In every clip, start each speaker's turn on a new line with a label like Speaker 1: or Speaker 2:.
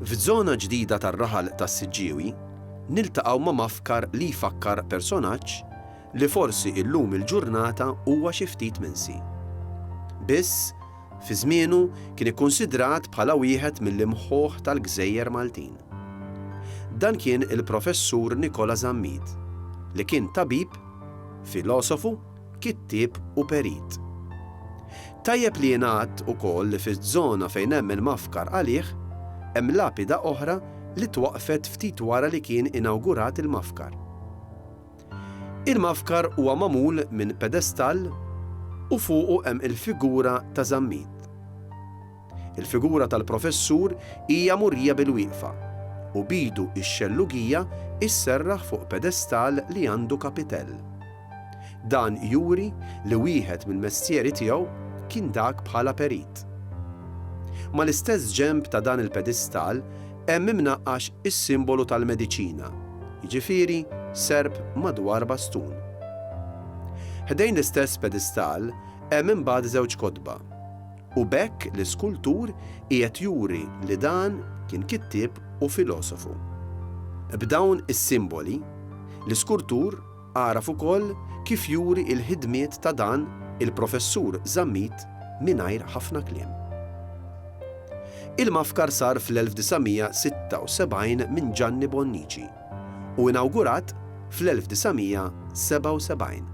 Speaker 1: F'żona ġdida tar-raħal tas-Siġġiewi, niltaqgħu ma' mafkar li jfakkar personaġġ li forsi illum il-ġurnata huwa xi ftit minsi. Biss, fi żmienu kien ikkunsidrat bħala wieħed mill-imħuħ tal-gżejjer Maltin. Dan kien il-Professur Nikola Zammit, li kien tabib, filosofu, kittieb u perit. Tajjeb li jingħad ukoll li fiż-żona fejn hemm il-mafkar għalih, hemm lapida oħra li twaqqfet ftit wara li kien inawgurat il-mafkar. Il-mafkar huwa magħmul minn pedestall u fuqu hemm il-figura ta' Zammit. Il-figura tal-professur hija murija bilwieqfa, u b'idu x-xellugija sserraħ fuq pedestal li għandu kapitell. Dan juri li wieħed mill-mestieri tiegħu kien dak bħala perit. Mal-istess ġenb ta' dan il-pedistal hemm imnaqqax is-simbolu tal-mediċina, jiġifieri serp madwar bastun. Ħdejn l-istess pedistal hemm imbagħad żewġ kotba, U b'hekk l-iskultur qiegħed juri li dan kien kittieb u filosofu. B'dawn is-simboli, l-iskurtur għaraf ukoll kif juri il-ħidmiet ta' dan il-Professur Zammit mingħajr ħafna kliem. Il-mafkar sar fl-1976 minn Ġanni Bonnici u inawgurat fl-1977.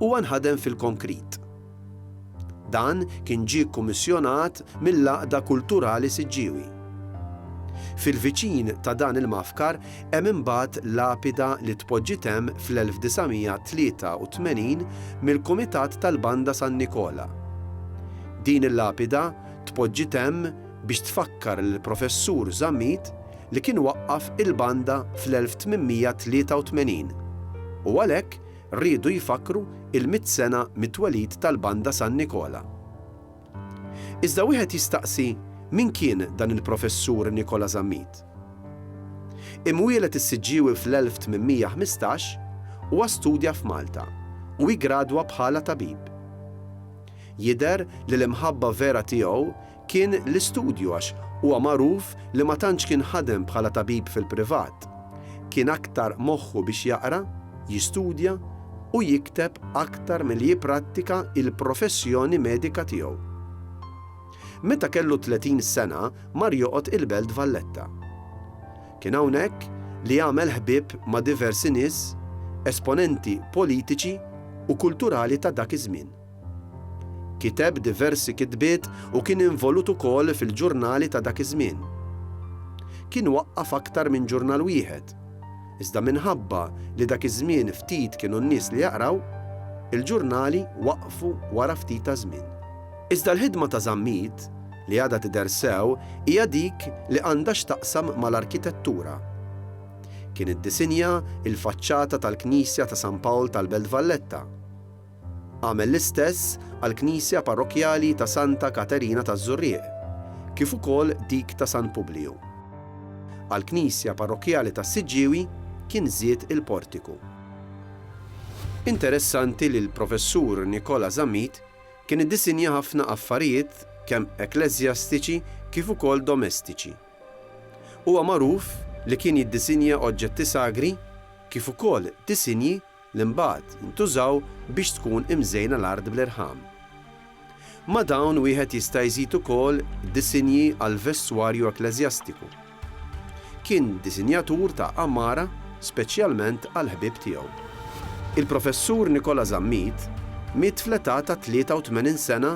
Speaker 1: Huwa nħadem fil-konkrit. Dan kien ġie kkummissjonat mill-Għaqda Kulturali Siġġiewi. Fil-viċin ta' dan il-mafkar hemm imbagħad lapida li tpoġġiet hemm fl-1983 mill-Kumitat tal-Banda San Nikola. Din il-lapida tpoġġiet hemm biex tfakkar lill-Professur Zammit li kien waqqaf il-Banda fl-1883 u għalhekk Riedu jfakkru il-mitt sena mit-twelid tal-Banda San Nikola. Iżda wieħed jistaqsi min kien dan il-Professur Nikola Zammit? Imwieled is-Siġġiewi fl-1815, huwa studja f'Malta u iggradwa bħala tabib. Jidher li l-imħabba vera tiegħu kien l-istudju għax huwa magħruf li ma tantx kien ħadem bħala tabib fil-privat. Kien aktar moħħu biex jaqra, jistudja u jikteb aktar milli jipprattika il-professjoni medika tiegħu. Meta kellu 30 sena mar joqgħod il-Belt Valletta. Kien hawnhekk li għamel ħbieb ma' diversi nies, esponenti politiċi u kulturali ta' dak iż-żmien. Kiteb diversi kitbiet u kien involut ukoll fil-ġurnali ta' dak iż-żmien. Kien waqqaf aktar minn ġurnal wieħed, iżda minħabba li dak iż-żmien ftit kienu n-nies li jaqraw, il-ġurnali waqfu wara ftit ta' żmien. Iżda l-ħidma ta' Zammit li għadha tidher sew hija dik li għandha x'taqsam mal-arkitettura. Kien iddisinja l-faċċata tal-knisja ta' San Pawl tal-Belt Valletta. Għamel l-istess għall-knisja parrokkjali ta' Santa Katerina taż-Żurrieq, kif ukoll dik ta' San Publiju. Għall-knisja parrokkjali tas-Siġġiewi kien żied il-portiku. Interessanti li l-Professur Nikola Zammit kien iddisinja ħafna affarijiet kemm ekkleżjastiċi kif ukoll domestiċi. Huwa magħruf li kien jiddisinja oġġetti sagri kif ukoll disinji li mbagħad ntużaw biex tkun imżejna l-art bl-irħam. Ma' dawn wieħed jista' jżid ukoll disinji għall-vestwarju ekkleżjastiku. Kien disinjatur ta' għamara speċjalment għall-ħbieb tiegħu. Il-Professur Nikola Zammit miet fl-età ta' 83 sena